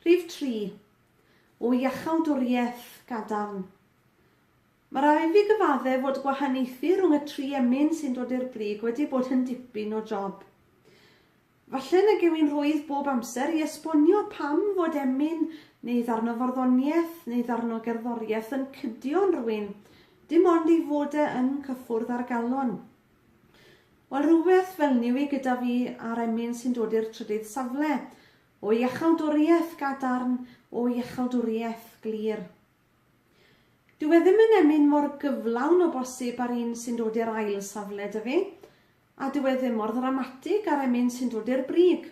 Rhif tri, o iachawdwriaeth gadarn. Mae rhaid i fi gyfaddef fod gwahaniaethu rhwng y tri emyn sy'n dod i'r brig wedi bod yn dipyn o job. Falle na gewyn rwydd bob amser i esbonio pam fod emyn, neu ddarno farddoniaeth, neu ddarno gerddoriaeth yn cydio'n rwyn, dim ond ei fod e yn cyffwrdd â'r galon. Wel, rhywbeth felny yw hi gyda fi a'r emyn sy'n dod i'r trydydd safle, o iachawdwriaeth gadarn, o iachawdwriaeth glir. Dyw e ddim yn emyn mor gyflawn o bosib â'r un sy'n dod i'r ail safle 'da fi, a dyw e ddim mor ddramatig â'r emyn sy'n dod i'r brig.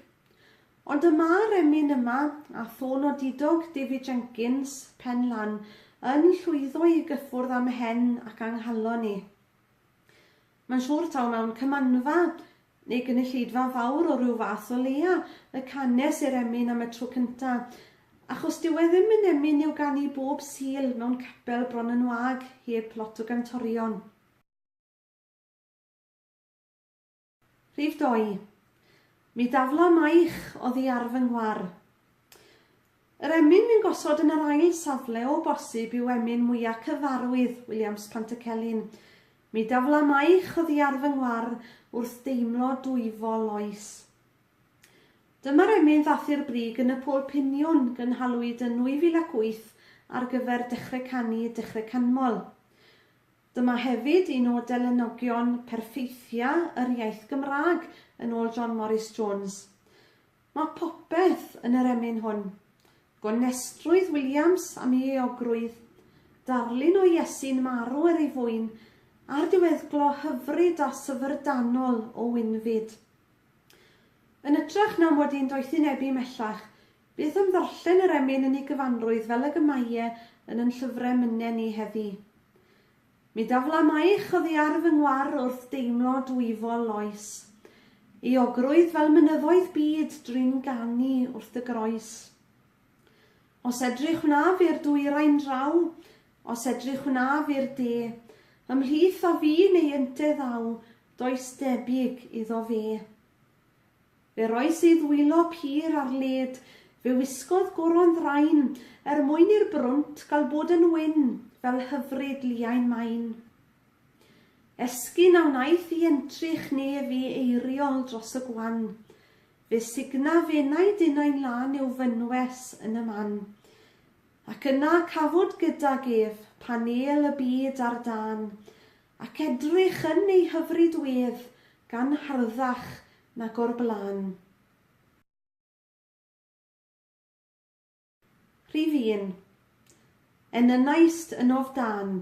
Ond y mae'r emyn yma, a thôn o didog David Jenkins, Pen Lan, yn llwyddo i gyffwrdd â mhen ac anghalon i. Mae'n siŵr taw mewn cymanfa neu gynulleidfa fawr o ryw fath o leia, y canes i'r emyn am y tro cynta, achos dyw e ddim yn emyn i'w ganu bob Sul mewn capel bron yn wag heb lot o gantorion. Rhif dou. Mi dafla maich oddi ar fy nghwar. Yr emyn fu'n gosod yn yr ail safle o bosib yw emyn mwya cyfarwydd Williams Pantycelyn. Mi daflamaich oddiar fy ngwar wrth deimlo dwyfo loes. Dyma'r emyn ddathu'r brig yn y Pôl Piniwn gynhalwyd yn 2008 ar gyfer Dechre Canu, Dechre Canmol. Dyma hefyd un o delynnogion perffeithia yr iaith Gymraeg yn ôl John Morris Jones. Mae popeth yn yr emyn hwn. Gonestrwydd Williams am ei euogrwydd, darlun o Iesu'n marw er ei fwyn, a'r diweddglo hyfryd a syfrdanol o Winfyd. Yn ytrach na mod i'n doethinebu mhellach, beth am ddarllen yr emyn yn ei gyfanrwydd fel ag y mae e yn yn llyfre myne ni heddi. Mi dafla maich oddi ar fy ngwar wrth deimlo dwyfol loes. Euogrwydd fel mynyddoedd byd drin ganu wrth dy groes. Os edrych wnaf i'r dwyrain draw, os edrych wnaf i'r de, ymhlith a fu neu ynte ddaw, does debyg iddo fe. Fe rois ei ddwylo pur ar led, fe wisgodd goron ddrain, er mwyn i'r brwnt gal bod yn wyn fel hyfryd liain main. Esgyn a wnaeth i entrych nef i eiriol dros y gwan, fe sugna fenau dinau'n lân i'w fynwes yn y man, ac yna cafwyd gydag ef panêl y byd ar dân, Ac edrych yn ei hyfryd wedd gan harddach nag o'r blaen. Rhif un. Enynaist yn of dan.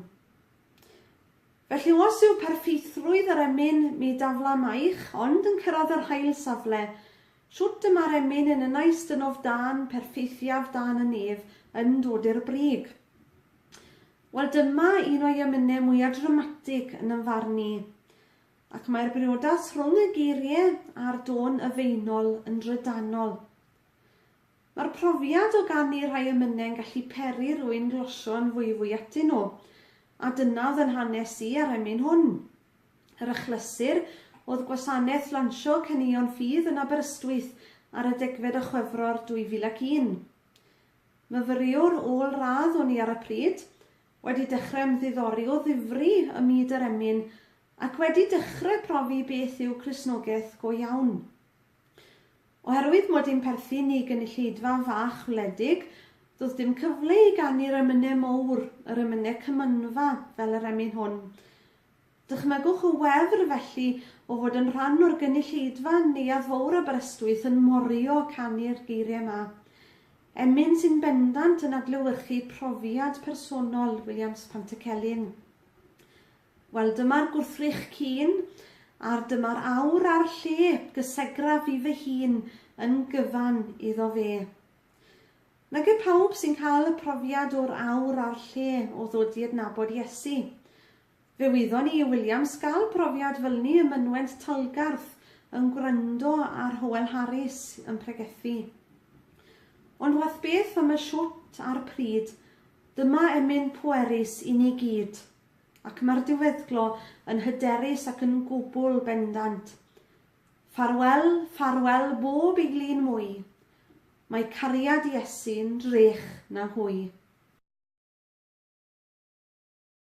Felly os yw perffeithrwydd yr emyn mi daflamaich ond yn cyrraedd yr hail safle, shwt y mae'r emyn enynaist yn of dan perffeithiaf dan y nef yn dod i'r brig? Wel dyma un o'i emynau mwya dramatig yn yn farn i, ac mae'r briodas rhwng y geirie a'r dôn yfeinol yn drydanol. Mae'r profiad o ganu rhai emynau yn gallu peri rwy'n glosio yn fwyfwy atyn nhw, a dyna oedd yn hanes i a'r emyn hwn. Yr achlysur oedd Gwasanaeth Lansio Caneuon Ffydd yn Aberystwyth ar y degfed o Chwefror 2001. Myfyriwr ôl-radd o'n i ar y pryd, wedi dechrau ymddiddori o ddifri ym myd yr emyn ac wedi dechrau profi beth yw Cristnogaeth go iawn. Oherwydd mod i'n perthyn i gynulleidfa fach wledig, do'dd dim cyfle i ganu'r emynau mowr, yr emynau cymynfa fel yr emyn hwn. Dychmygwch y wefr, felly, o fod yn rhan o'r gynulleidfa yn Neuadd Fowr Aberystwyth yn morio a canu'r geiriau 'ma. Emyn sy'n bendant yn adlewyrchu profiad personol Williams Pantycelyn. Wel, dyma'r gwrthrych cîn, a'r dyma'r awr a'r lle gysegraf i fy hun yn gyfan iddo fe. Nage pawb sy'n cael y profiad o'r awr a'r lle o ddod i adnabod Iesu. Fe wyddon ni i Williams gael profiad fylni ym mynwent Talgarth yn gwrando ar Howel Harris yn pregethu. Ond wath beth am y shwt a'r pryd, dyma emyn pwerus i ni gyd, ac mae'r diweddglo yn hyderus ac yn gwbl bendant. Ffarwel, ffarwel bob eiglin mwy, mae cariad Iesu'n rych na hwy.